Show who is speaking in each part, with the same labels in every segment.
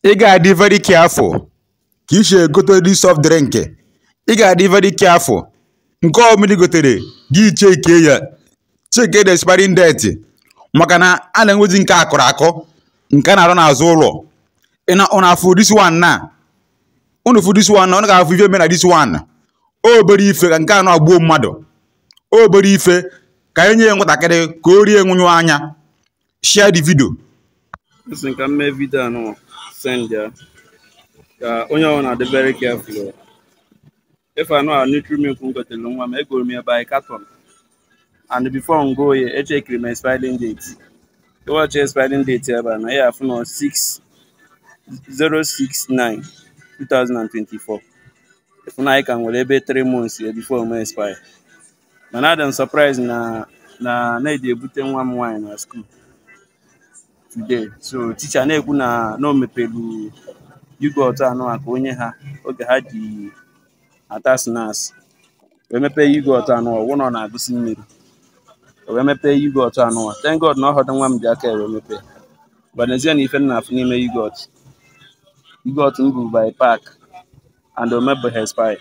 Speaker 1: ị ga-adị very careful ka i si egote this soft drink ị ga-adị very careful nke ọ bụla i gotere gị cheke ya cheke the expiring date maka na a na-enwezi nke a kụrụ akụ nke a na-arụ n'azụ ụlọ ị na ụnụ afụ this one na ụnụ fụ this one na ụnụ ga-afụ ife mere na this one obere ife ka nke anụa gbuo mmadụ obere ife ka e nye ya nwatakịrị ka o rie nwụnyụ anya share the video asị m ka m mee video anụa send ya ka onye ọbụla na-adị very careful o. ife anụa nutri-milk m gotere nwa m egoro m ya by carton and before m go ya echekiri m expiring date ị wachi expiring date ebe a na ị ya-afụ na 6 069 2024 ị fụ na anyị ka nwere ebe 3 months ya before o mee expire mana adị m surprise na na m na-eje ebute nwa m nwaanyị na school today so teacher na-ekwu na na o mepelu yogurt anụa ka o nye ha oge ha ji ata snacks wee mepee yogurt anụa ọ fụ na ọ na-agụsi mmiri o wee mepee yogurt anụa thank god na ọ họdụ nwa m ji aka ya wee mepee bịa nezie na ife m na-afụ n'ime yogurt yogurt m bu by pack and o mebụhọ expire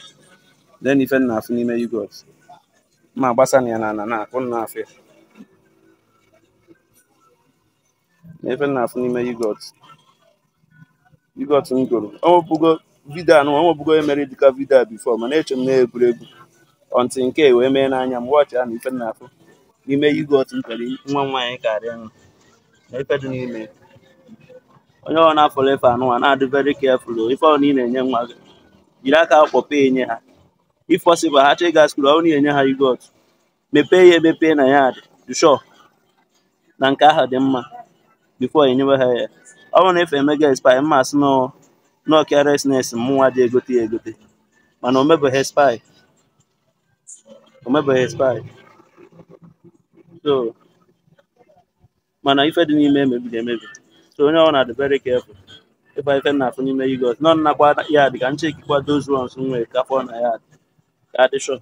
Speaker 1: nee ife m na-afụ n'ime yogurt m ma-agbasa na ya na ana ka ụnụ na-afụ ya nee ife m na-afụ n'ime yogurt yogurt m goro ọnwepụgo video anụa ọnwepụgo emere dịka video a before mana eche m na egwuregwu until nke a wee mee n'anya m wọchịa nee ife m na-afụ n'ime yogurt m kere nwa m nwaanyị karịa nwa na ife dị n'ime onye ọbụla fụrụ ife anụnwa na-adị very careful o. ife ọbụla ị na-enye nwa gị jiri aka kpọpee enye ha if possible ha chọọ ịga school ọ bụrụ na ị nye ha yogurt mepee ya emepee nee ya dị sure na nke ahụ dị mma before enyewe ha ya ọ bụrụ na ife emego expire m ma-asị na ọ carelessness mụnwa ji egote ya egote mana o mebeghị expire o mebeghị expire so mana ife dị n'ime mebiri emebi so onye ọbụla na-adị very careful ịba ife m na-afụ n'ime yogurt nọ nnakwa ya dị ka m chekikwa those ones m nwere ka m fụ na ya dị ka adị sure